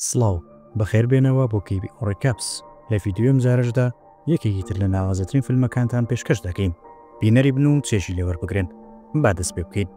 سڵاو، بەخێر بێنەوە بۆ کیبی ئۆڕی کەپس. لە ڤیدیۆی ئەمجارەشدا یەکێکی تر لە ناوازەترین فیلمەکانتان پێشکەش دەکەین. بینەری بن و چێژی لێ وەربگرن. با دەست پێ بکەین.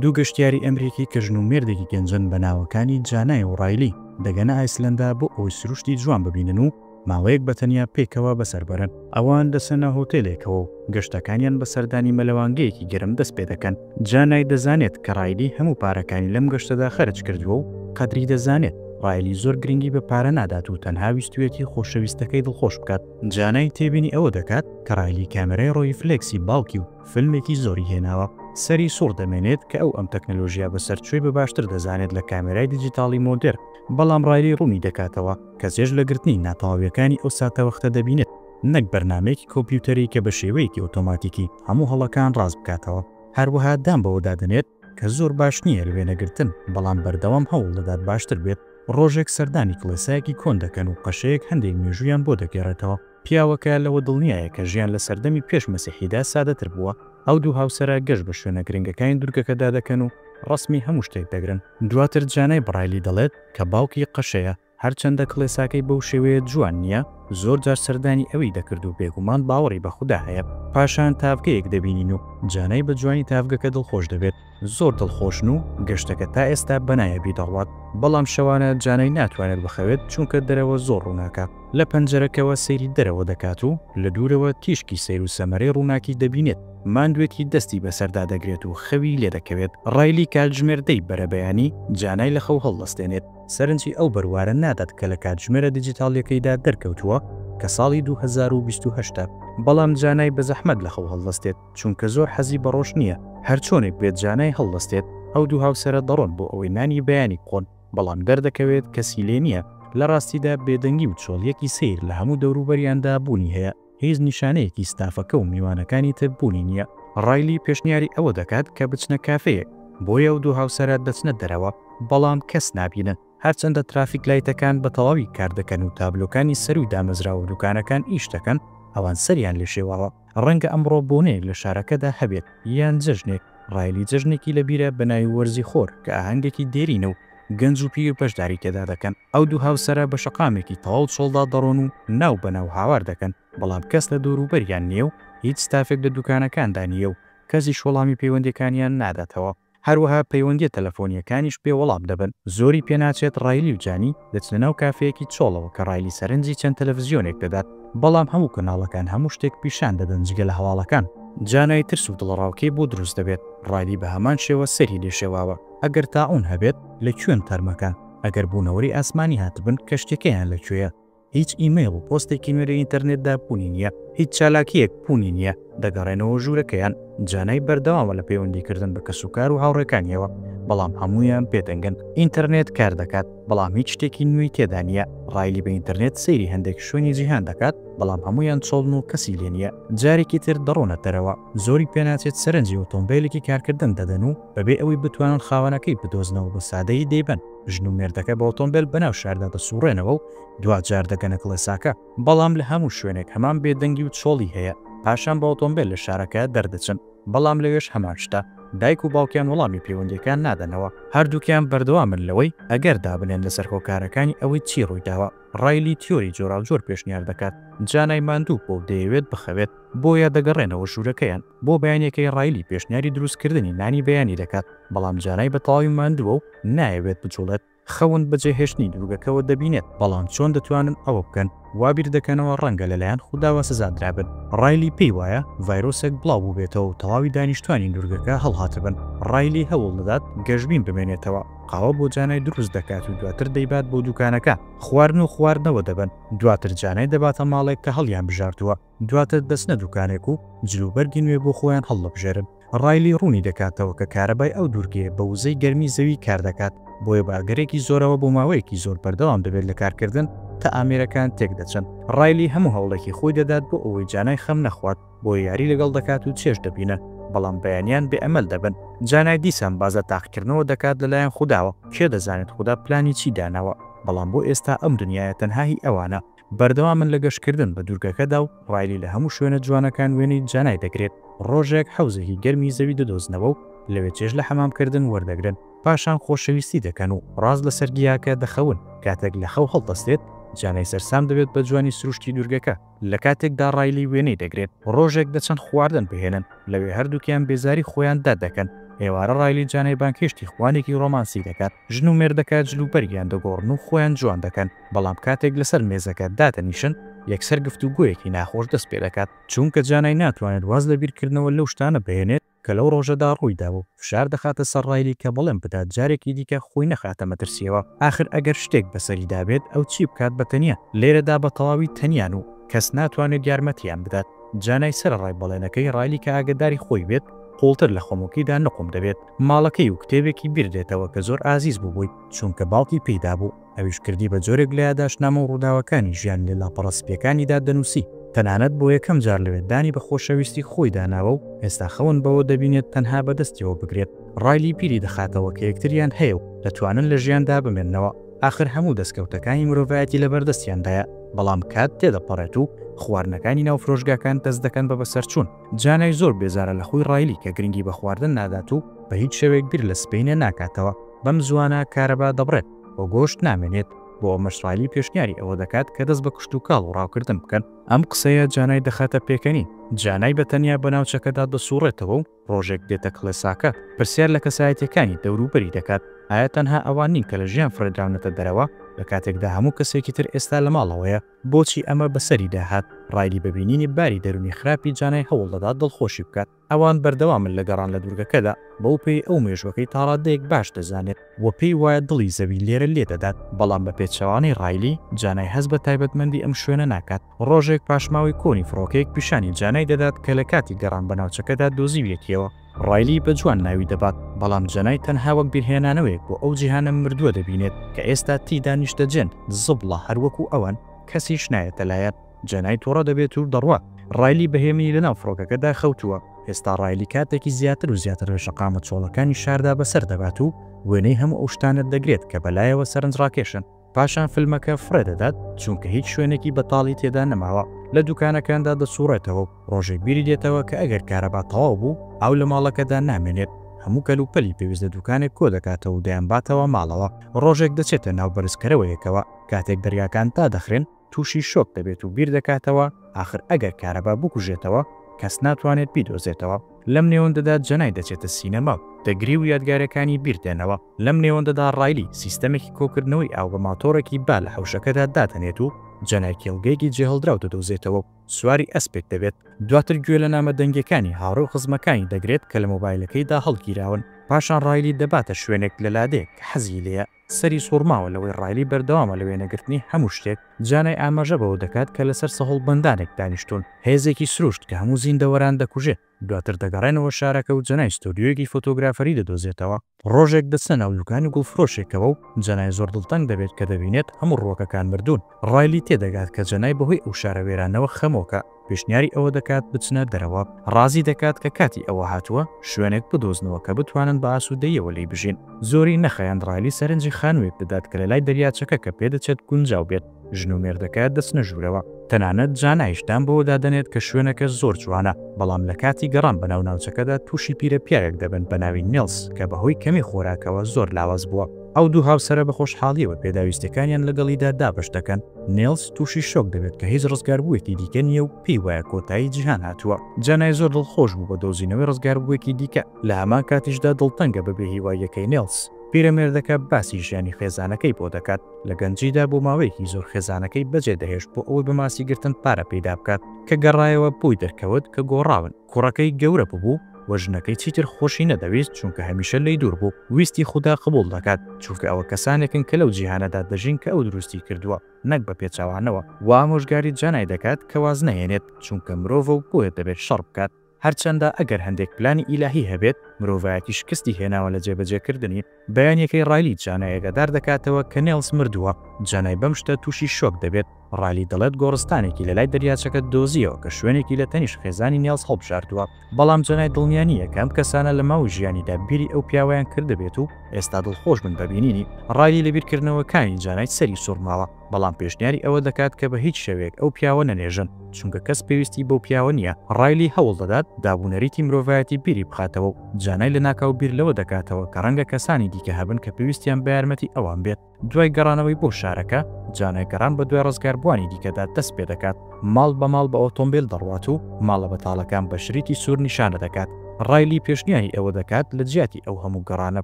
دوو گەشتیاری ئەمریکی کە ژن و مێردێکی گەنجن بە ناوەکانی جانای و ڕایلی دەگەنە ئایسلەندا بۆ ئەوەی سروشتی جوان ببینن و ماوەیەک بە تەنیا پێکەوە بەسەر بەرن. ئەوان دەچنە هۆتێلێکەوە و گەشتەکانیان بە سەردانی مەلەوانگەیەکی گەرم دەست پێ دەکەن. جانای دەزانێت کە ڕایلی هەموو پارەکانی لەم گەشتەدا خەرج کردووە و قەدری دەزانێت. ڕایلی زۆر گرنگی بە پارە نادات و تەنها ویستوویەتی خۆشەویستەکەی دڵخۆش بکات. جانای تێبینی ئەوە دەکات کە ڕایلی کامێرای ڕۆیفلێکسی باوکی و فیلمێکی زۆری هێناوە. سەری سوڕ دەمێنێت کە ئەو ئەم تەکنەلۆژیا بەسەرچووی بە باشتر دەزانێت لە کامێرای دیجیتاڵی مۆدێرن. بەڵام ڕایلی ڕوونی دەکاتەوە. کە چێژ لە گرتنی ناتەواوییەکانی ئەو ساتەوەختە دەبینێت، نەک بەرنامەیەکی کۆمپیوتەری کە بە شێوەیەکی ئۆتۆماتیکی هەموو هەڵەکان ڕاست بکاتەوە. هەروەها دان بەوەدا دەنێت کە زۆر باش نییە لە وێنەگرتن، بەڵام بەردەوام هەوڵ دەدات باشتر بێت. ڕۆژێک سەردانی کڵێسایەکی کۆن دەکەن و قەشەیەک هەندێک مێژوویان بۆ دەگێڕێتەوە. پیاوەکە لەوە دڵنیایە کە ژیان لە سەردەمی پێش مەسیحیدا سادەتر بووە. ئەو دوو هاوسەرە گەشت بە شوێنە گرنگەکانی دوورگەکەدا دەکەن و ڕەسمی هەموو شتێک دەگرن. دواتر جانای برایلی دەڵێت، کە باوکی قەشەیە، هەرچەندە کڵێساکەی بەو شێوەیە جوان نییە، زۆر جار سەردانی ئەوی دەکرد و بێگومان باوەڕی بە خودا هەیە. پاشان تاڤگەیەک دەبینین و جانای بە جوانی تاڤگەکە دڵخۆش دەبێت. زۆر دڵخۆشن و گەشتەکە تا ئێستا بە نایابی دەڕوات. بەڵام شەوانە جانای ناتوانێت بخەوێت، چونکە دەرەوە زۆر ڕووناکە. لە پەنجەرەکەوە سەیری دەرەوە دەکات و لە دوورەوە تیشکی سەیر و سەمەرەی ڕووناکی دەبینێت. ماندوێتی دەستی بەسەردا دەگرێت و خەوی لێدەکەوێت. ڕایلی کاتژمێر دەی بەرەبەیانی جانای لە خەو هەڵدەستێنێت. سەرنجی ئەو بەروارە نادات کە لە کاتژمێرە دیجیتاڵییەکەیدا دەرکەوتووە کە ساڵی دوو هەزار و بیست و هەشت ە. بەڵام جانای بە زەحمەت لە خەو هەڵدەستێت چونکە زۆر حەزی بە ڕۆژ نییە. هەرچۆنێک بێت جانای هەڵدەستێت. ئەو دوو هاوسەرە دەڕۆن بۆ ئەوەی نانی بەیانی بخۆن. بەڵام دەردەکەوێت کەسی لێ نییە، لە ڕاستیدا بێدەنگی و چۆڵییەکی سەیر لە هەموو دەوروبەریاندا بوونی هەیە، هیچ نیشانەیەکی ستافەکە و میوانەکانی تر بوونی نییە. ڕایلی پێشنیاری ئەوە دەکات کە بچنە کافێیەک، بۆی ئەو دوو هاوسەرە دەچنە دەرەوە، بەڵام کەس نابینن، هەرچەندە ترافیک لایتەکان بە تەواوی کار دەکەن و تابلۆکانی سەرووی دامەزراوە و دوکانەکان ئیش دەکەن، ئەوان سەریان لێ شێواوە. ڕەنگە ئەمڕۆ بۆنەیەک لە شارەکەدا هەبێت یان جەژنێک، ڕایلی جەژنێکی لەبیرە بە ناوی وەرزی خۆر کە ئاهەنگێکی دێرینە و گەنج و پیری بەشداری تێدا دەکەن. ئەو دوو هاوسەرە بە شەقامێکی تەواو چۆڵدا دەڕۆن و ناو بە ناو هاوار دەکەن، بەڵام کەس لە دەوروبەریان نییە و هیچ ستافێک لە دوکانەکاندا نییە و کەسیش وەڵامی پەیوەندییەکانیان ناداتەوە. هەروەها پەیوەندیە تەلەفۆنیەکانیش بێ وەڵام دەبن. زۆری پێناچێت ڕایلی و جانی بچنە ناو کافێیەکی چۆڵەوە کە ڕایلی سەرنجی چەند تەلەفزیۆنێک دەدات بەڵام هەموو کەناڵەکان هەموو شتێک پیشان دەدەن جگە لە هەواڵەکان. جانای ترس و دڵەڕاوکێی بۆ دروست دەبێت، ڕایلی بە هەمان شێوە سەری لێ شێواوە. ئەگەر تاعون هەبێت لە کوێن تەرمەکان؟ ئەگەر بوونەوەری ئاسمانی هاتبن کەشتیەکەیان لە کوێیە؟ هیچ ئیمەیڵ و پۆستێکی نوێ لە ئینتەرنێتدا بوونی نییە، هیچ چالاکییەک بوونی نییە، دەگەڕێنەوە ژوورەکەیان، جانای بەردەوامە لە پەیوەندیکردن بە کەسوکار و هاوڕێکانییەوە، بەڵام هەموویان پێدەنگن. ئینتەرنێت کار دەکات، بەڵام هیچ شتێکی نوێی تێدا نییە. ڕایلی بە ئینتەرنێت سەیری هەندێک شوێنی جیهان دەکات، بەڵام هەموویان چۆڵن و کەسی لێ نییە. جارێکی تر دەڕۆنە دەرەوە، زۆری پێناچێت سەرنجی ئۆتۆمبێلێکی کارکردن دەدەن و بەبێ ئەوەی بتوانن خاوەنەکەی بدۆزنەوە بە سادەیی دەیبەن. ژن و مێردەکە بە ئۆتۆمبێل بەناو شاردا دەسوڕێنەوە و دواجار دەگەنە کڵێساکە، بەڵام لە هەموو شوێنێک هەمان بێدەنگی و چۆڵی هەیە، پاشان بە ئۆتۆمبێل لە شارەکە دەردەچن، بەڵام لەوێش هەمان شتە، دایک و باوکیان وەڵامی پەیوەندییەکەیان نادەنەوە. هەردووکیان بەردەوامن لەوەی ئەگەر دابنێن لەسەر هۆکارەکانی ئەوەی چی ڕوویداوە. ڕایلی تیۆری جۆراوجۆر پێشنیار دەکات، جا نای ماندوو بووە و دەیەوێت بخەوێت، بۆیە دەگەڕێنەوە ژوورەکەیان، بۆ بەیانیەکەی ڕایلی پێشنیاری دروستکردنی نانی بەیانی دەکات، بەڵام جانای بە تەواوی ماندووە و نایەوێت بجوڵێت، خەون بەجێهێشتنی دوورگەکەوە دەبینێت، بەڵام چۆن دەتوانن ئەوە بکەن، وا بیردەکەنەوە ڕەنگە لەلایەن خوداوە سزادرابن، ڕایلی پێی وایە ڤایرۆسێک بڵاوبووبێتەوە و تەواوی دانیشتوانی دوورگەکە هەڵهاتبن، ڕایلی هەوڵ دەدات گەشبین بمێنێتەوە، قاوە بۆ جانای دروست دەکات و دواتر دەیبات بۆ دوکانەکە، خواردن و خواردنەوە دەبەن، دواتر جانای دەباتە ماڵێک کە هەڵیانبژاردووە. دواتر دەچنە دوکانێک و جل و بەرگی نوێ بۆ خۆیان هەڵدەبژێرن. ڕایلی ڕوونی دەکاتەوە کە کارەبای ئەو دوورگەیە بە وزەی گەرمی زەوی کار دەکات، بۆیە بە ئەگەرێکی زۆرەوە بۆ ماوەیەکی زۆر بەردەوام دەبێت لە کارکردن تا ئامێرەکان تێک دەچن. ڕایلی هەموو هەوڵێکی خۆی دەدات بۆ ئەوەی جانای خەم نەخوات، بۆیە یاری لەگەڵ دەکات و چێژ دەبینن، بەڵام بەیانیان بێ ئەمەل دەبن. جانای دیسان باس لە تاقیکردنەوە دەکات لەلایەن خوداوە، کێ دەزانێت خودا پلانی چی داناوە، بەڵام بۆ ئێستا ئەم دنیایە تەنها هی ئەوانە. بەردەوامن لە گەشتکردن بە دوورگەکەدا و ڕایلی لە هەموو شوێنە جوانەکان وێنەی جانای دەگرێت، ڕۆژێک حەوزێکی گەرمی زەوی دەدۆزنەوە و لەوێ چێژ لە حەمامکردن وەردەگرن، پاشان خۆشەویستی دەکەن و ڕاست لەسەر گیاکە دەخەون، کاتێک لە خەو هەڵدەستێت، جانای سەرسام دەبێت بە جوانی سروشتی دوورگەکە، لە کاتێکدا ڕایلی وێنەی دەگرێت، ڕۆژێک دەچن خواردن بهێنن، لەوێ هەردووکیان بێزاری خۆیان دەردەکەن، ئێوارە ڕایلی جانای بانگهێشتی خوانێکی ڕۆمانسی دەکات، ژن و مێردەکە جلوبەرگیان دەگۆڕن و خۆیان جوان دەکەن، بەڵام کاتێک لەسەر مێزەکە دادەنیشن یەکسەر گفتوگۆیەکی ناخۆش دەست پێدەکات، چونکە جانای ناتوانێت واز لە بیرکردنەوە لەو شتانە بهێنێت کە لەو ڕۆژەدا ڕوویداوە و فشار دەخاتە سەر ڕایلی کە بەڵێن بدات جارێکی دیکە خۆی نەخاتە مەترسییەوە، ئاخر ئەگەر شتێک بەسەریدا بێت ئەو چی بکات بە تەنیا، لێرەدا بە تەواوی تەنیان و کەس ناتوانێت یارمەتییان بدات، جانای سەرەڕای بەڵێنەکەی ڕایلی کە ئاگەداری خۆی بێت قوڵتر لە خۆمۆکیدا نقوم دەبێت ماڵەکەی و کتێبێکی بیردێتەوە کە زۆر ئازیز بوو بۆی چونکە باوکی پێی دابوو. ئەویش کردی بە جۆرێک لە یاداشتنامە و ڕووداوەکانی ژیانی لە لاپەڕە سپییەکانیدا دەنووسی، تەنانەت بۆ یەکەم جار لەوێ دانی بە خۆشەویستی خۆیدا ناوە و ئێستا خەون بەوە دەبینێت تەنها بە دەستیەوە بگرێت، ڕایلی بیری دەخاتەوە کە یەکتریان هەیە و دەتوانن لە ژیاندا بمێننەوە، ئاخر هەموو دەستکەوتەکانی مرۆڤایەتی لە بەردەستیاندایە، بەڵام کات تێدەپەڕێت و خواردنەکانی ناو فرۆشگاکان دەست دەکەن بە بەسەرچوون، جانای زۆر بێزارە لە خووی ڕایلی کە گرنگی بە خواردن نادات و بە هیچ شێوەیەک بیر لە سبەینێ ناکاتەوە، بەم زووانە کارەبا دەبڕێت. و گۆشت نامێنێت، بۆ ئەمەش سالی پێشنیاری ئەوە دەکات کە دەست بە کشتوکاڵ و ڕاوکردن بکەن. ئەم قسەیە جانای دەخاتە پێکەنین، جانای بە تەنیا بە ناوچەکەدا دەسوڕێتەوە و ڕۆژێک دێتە کڵێساکە، پرسیار لە کەسایەتییەکانی دەوروبەری دەکات، ئایا تەنها ئەوان نین کە لە ژیان فڕێدراونەتە دەرەوە، لە کاتێکدا هەموو کەسێکی تر ئێستا لە ماڵەوەیە؟ بۆچی ئەمە بەسەریدا هات؟ ڕایلی بە بینینی باری دەروونی خراپی جانای هەوڵ دەدات دڵخۆشی بکات. ئەوان بەردەوامن لە گەڕان لە دوورگەکەدا، بەوپێی ئەو مێژووەکەی تاڕاددەیەک باش دەزانێت و پێی وایە دڵی زەوی لێرە لێدەدات، بەڵام بە پێچەوانەی ڕایلی، جانای هەست بە تایبەتمەندی ئەم شوێنە ناکات، ڕۆژێک پاشماوەی کۆنی فڕۆکەیەک پیشانی جانای دەدات کە لە کاتی گەڕان بە ناوچەکەدا دۆزیویەتیەوە. ڕایلی بە جوان ناوی دەبات، بەڵام جانای تەنها وەک بیرهێنانەوەیەک بۆ ئەو جیهانە مردووە دەبینێت کە ئێستا تێیدا نیشتەجێن، زبڵە هەر وەکو ئەوان، کەسیش نایەتە لایان. جەنای توڕە دەبێت و دەڕوات. ڕایلی بە هێمنی لەناو فڕۆکەکەدا خەوتووە. ئێستا ڕایلی کاتێکی زیاتر و زیاتر لە شەقامە چۆڵەکانی شاردا بەسەر دەبات و وێنەی هەموو ئەو شتانە دەگرێت کە بەلایەوە سەرنجڕاکێشن. پاشان فیلمەکە فڕێ دەدات، چونکە هیچ شوێنێکی بەتاڵی تێدا نەماوە. لە دوکانەکاندا دەسوڕێتەوە و ڕۆژێک بیری دێتەوە کە ئەگەر کارەبا تەواو بوو، ئاو لە ماڵەکەدا نامێنێت. هەموو کەلوپەلی پێویست لە دوکانێک کۆ دەکاتەوە و دەیانباتەوە ماڵەوە. ڕۆژێک دەچێتە ناو بەرزکەرەوەیەکەوە. کاتێک دەرگاکان دادەخرێن، تووشی شۆک دەبێت و بیر دەکاتەوە ئاخر ئەگەر کارەبا بکوژێتەوە کەس ناتوانێت بیدۆزێتەوە. لەم نێوەندەدا جەنای دەچێتە سینەما و دەگری و یادگارەکانی بیر دێنەوە. لەم نێوەندەدا ڕایلی سیستەمێکی کۆکردنەوەی ئاو بە ماتۆڕێکی با لە حەوشەکەدا دادەنێت و جەنای کێڵگەیەکی جێهەڵدراو دەدۆزێتەوە و سواری ئەسپێک دەبێت. دواتر گوێ لە نامە دەنگیەکانی هاوڕێ و خزمەکانی دەگرێت کە لە مۆبایلەکەیدا هەڵگیراون. پاشان ڕایلی دەباتە شوێنێک لە لادێ کە حەزی لێیە. سەری سوڕماوە لەوەی ڕایلی بەردەوامە لە وێنەگرتنی هەموو شتێک، جانای ئاماژە بەوە دەکات کە لەسەر سەهۆڵبەندانێک دانیشتوون، هێزێکی سروشت کە هەموو زیندەوەران دەکوژێت، دواتر دەگەڕێنەوە شارەکە و جانای ستۆدیۆیەکی فۆتۆگرافەری دەدۆزێتەوە، ڕۆژێک دەچنە ناو دوکانی گوڵفرۆشێکەوە و جانای زۆر دڵتەنگ دەبێت کە دەبینێت هەموو ڕووەکەکان مردوون. ڕایلی تێدەگات کە جەنای بەهۆی ئەو شارە وێرانەوە خەمۆکە، پێشنیاری ئەوە دەکات بچنە دەرەوە، ڕازی دەکات کە کاتی ئەوە هاتووە شوێنێک بدۆزنەوە کە بتوانن بە ئاسوودەییەوە لێی بژین. زۆری نەخایاند ڕایلی سەرنجی خانوویەک دەدات کە لەلای دەریاچەکە کە پێدەچێت گونجاو بێت ژن و مێردەکە دەچنە ژوورەوە. تەنانەت جانایش دان بەوە دادەنێت کە شوێنەکە زۆر جوانە، بەڵام لە کاتی گەڕان بەناو ناوچەکەدا تووشی پیرە پیاوێک دەبن بەناوی نیڵس کە بەهۆی کەمی خۆراکەوە زۆر لاواز بووە. ئەو دوو هاوسەرە بە خۆشحاڵییەوە پێداویستییەکانیان لەگەڵیدا دابەش دەکەن، نێلس تووشی شۆک دەبێت کە هیچ ڕزگاربووێکی دیکە نییە و پێی وایە کۆتایی جیهان هاتووە. جانای زۆر دڵخۆش بوو بە دۆزینەوەی ڕزگاربووێکی دیکە، لە هەمان کاتیشدا دڵتەنگە بە بێهیواییەکەی نێلس. پیرەمێردەکە باسی ژیانی خێزانەکەی بۆ دەکات، لە گەنجیدا بۆ ماوەیەکی زۆر خێزانەکەی بەجێدەهێشت بۆ ئەوەی بە ماسیگرتن پارە پەیدا بکات، کە گەڕایەوە بۆی دەرکەوت کە گۆڕاون، کوڕەکەی گەورە ببوو، وە ژنەکەی چیتر خۆشی نەدەویست چونکە هەمیشە لێی دوور بوو ویستی خودا قبوڵ دەکات چونکە ئەوە کەسانێکن کە لەو جیهانەدا دەژین کە ئەو دروستی کردووە نەک بە پێچەوانەوە وە ئامۆژگاری جانای دەکات کە واز نەهێنێت چونکە مرۆڤە و بۆیە دەبێت شەڕ بکات هەرچەندە ئەگەر هەندێک پلانی ئیلاهی هەبێت مرۆڤایەتی شکستی هێناوە لە جێبەجێکردنی. بەیانیەکەی ڕایلی جانای ئاگادار دەکاتەوە کە نێڵس مردووە، جانای بەم شتە تووشی شۆک دەبێت، ڕایلی دەڵێت گۆڕستانێکی لەلای دەریاچەکە دۆزییەوە کە شوێنێکی لە تەنیشت خێزانی نێڵس هەڵبژاردووە، بەڵام جانای دڵنیا نییە کە ئەم کەسانە لە ماوەی ژیانیدا بیری ئەو پیاوەیان کردبێت و ئێستا دڵخۆش بن بە بینینی، ڕایلی لە بیرکردنەوەکانی جانای سەری سوڕماوە. بەڵام پێشنیاری ئەوە دەکات کە بە هیچ شێوەیەک ئەو پیاوە نەنێژن، چونکە کەس پێویستی بەو پیاوە نییە. ڕایلی هەوڵ دەدات دابونەریتی مرۆڤایەتی بیری بخاتەوە و جانای لەناکاو بیر لەوە دەکاتەوە کە ڕەنگە کەسانی دیکە هەبن کە پێویستیان بە یارمەتی ئەوان بێت. دوای گەڕانەوەی بۆ شارەکە، جانای گەڕان بەدوای ڕزگاربووانی دیکەدا دەست پێ دەکات، ماڵ بە ماڵ بە ئۆتۆمبێل دەڕوات و ماڵە بەتاڵەکان بە شریتی سوور نیشانە دەکات. ڕایلی پێشنیاری ئەوە دەکات لە جیاتی ئەو هەموو گەڕانە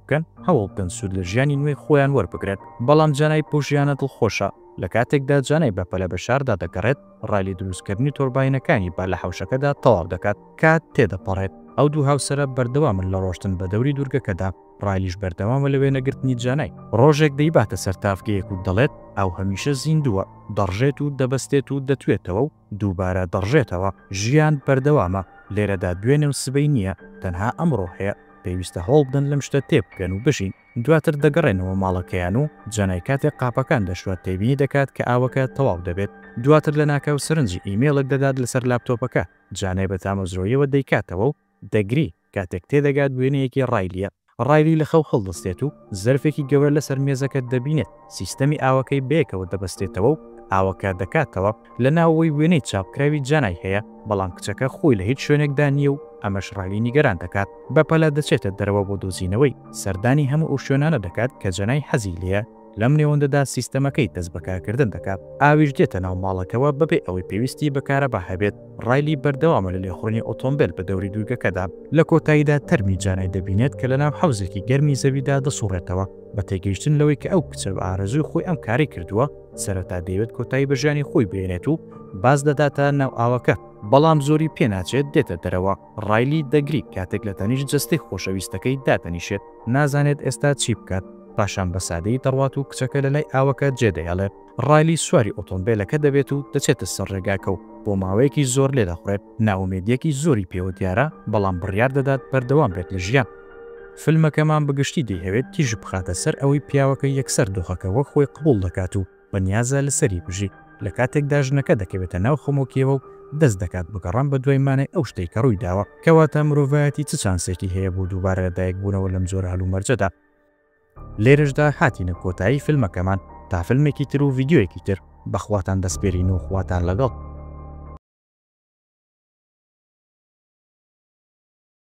بکەن، هەوڵ بدەن سوود لە ژیانی نوێی خۆیان وەربگرن. بەڵام جانای پووژیانە دڵخۆشە، لە کاتێکدا جانای بە پەلە بە شاردا دەگەڕێت، ڕای لە دروستکردنی تۆرباینەکانی با لە حەوشەکەدا تەواو دەکات. کات تێدەپەڕێت. ئەو دوو هاوسەرە بەردەوامن لە ڕۆشتن بە دەوری دوورگەکەدا، ڕایلیش بەردەوامە لە وێنەگرتنی جانای. ڕۆژێک دەیباتە سەر تاڤگەیەک و دەڵێت، ئاو هەمیشە زیندووە، دەڕژێت و دەبەستێت و دەتوێتەوە و دووبارە دەڕژێتەوە. ژیان بەردەوامە، لێرەدا دوێنێ و سبەی نییە، تەنها ئەمڕۆ هەیە. پێویستە هەوڵبدەن لەم شتە تێبگەن و بژین. دواتر دەگەڕێنەوە ماڵەکەیان و جەنای کاتێک قاپەکان دەشوات تێبینی دەکات کە ئاوەکە تەواو دەبێت، دواتر لەناکاو سەرنجی ئیمێڵێک دەدات لەسەر لاپتۆپەکە، جانای بە تامەزرۆییەوە دەیکاتەوە و دەگری، کاتێک تێدەگات وێنەیەکی ڕایلییە، ڕایلی لە خەو هەڵدەستێت و زەرفێکی گەورە لەسەر مێزەکە دەبینێت، سیستەمی ئاوەکەی بەیەکەوە دەبەستێتەوە و ئاوەکە دەکاتەوە، لە ناوەوەی وێنەی چاپکراوی جانای هەیە، بەڵام کچەکە خۆی لە هیچ شوێنێکدا نییە و ئەمەش ڕایلی نیگەران دەکات، بەپەلە دەچێتە دەرەوە بۆ دۆزینەوەی، سەردانی هەموو ئەو شوێنانە دەکات کە جانای حەزی لێیە، لەم نێوەندەدا سیستەمەکەی دەست بە کارکردن دەکات، ئاویش دێتە ناو ماڵەکەوە بەبێ ئەوەی پێویستی بە کارەبا هەبێت، ڕایلی بەردەوامە لە لێخوڕینی ئۆتۆمبێل بە دەوری دوورگەکەدا. لە کۆتاییدا تەرمی جانای دەبینێت کە لەناو حەوزێکی گەرمی زەویدا دەسوڕێتەوە، بە تێگەیشتن لەوەی کە ئەو کچە بە ئارەزووی خۆی ئەم کارەی کردووە سەرەتا دەیەوێت کۆتایی بە ژیانی خۆی بێنێت و باز دەداتە ناو ئاوەکە بەڵام زۆری پێناچێت دێتە دەرەوە ڕایلی دەگری کاتێک لە تەنیش جستەی خۆشەویستەکەی دادەنیشێت نازانێت ئێستا چی بکات پاشان بە سادەی دەڕوات و کچەکە لە لای ئاوەکە جێدەیڵێت ڕایلی سواری ئۆتۆمبێلەکە دەبێت و دەچێتە سەر ڕێگاکە و بۆ ماوەیەکی زۆر لێدەخوڕێت، نائومێدییەکی زۆری پێوە دیارە، بەڵام بڕیار دەدات بەردەوام بێت لە ژیان. فیلمەکەمان بە گشتی دەیهەوێت تیشک بخاتە سەر ئەوەی پیاوەکە یەکسەر دۆخەکە وەک خۆی قبوڵ دەکات و بەنیازە لەسەری بژی، لە کاتێکدا ژنەکە دەکەوێتە ناو خەمۆکییەوە و دەست دەکات بە گەڕان بەدوای مانای ئەو شتەی کە ڕوویداوە. کەواتە مرۆڤایەتی چ چانسێکی هەیە بۆ دووبارە لەدایکبوونەوە لەم جۆرە هەلومەرجەدا؟ لێرەشدا هاتینە کۆتایی فیلمەکەمان تا فیلمێکی تر و ڤیدیۆیەکی تر بەخواتان دەسپێرین و خواتان لەگەڵ.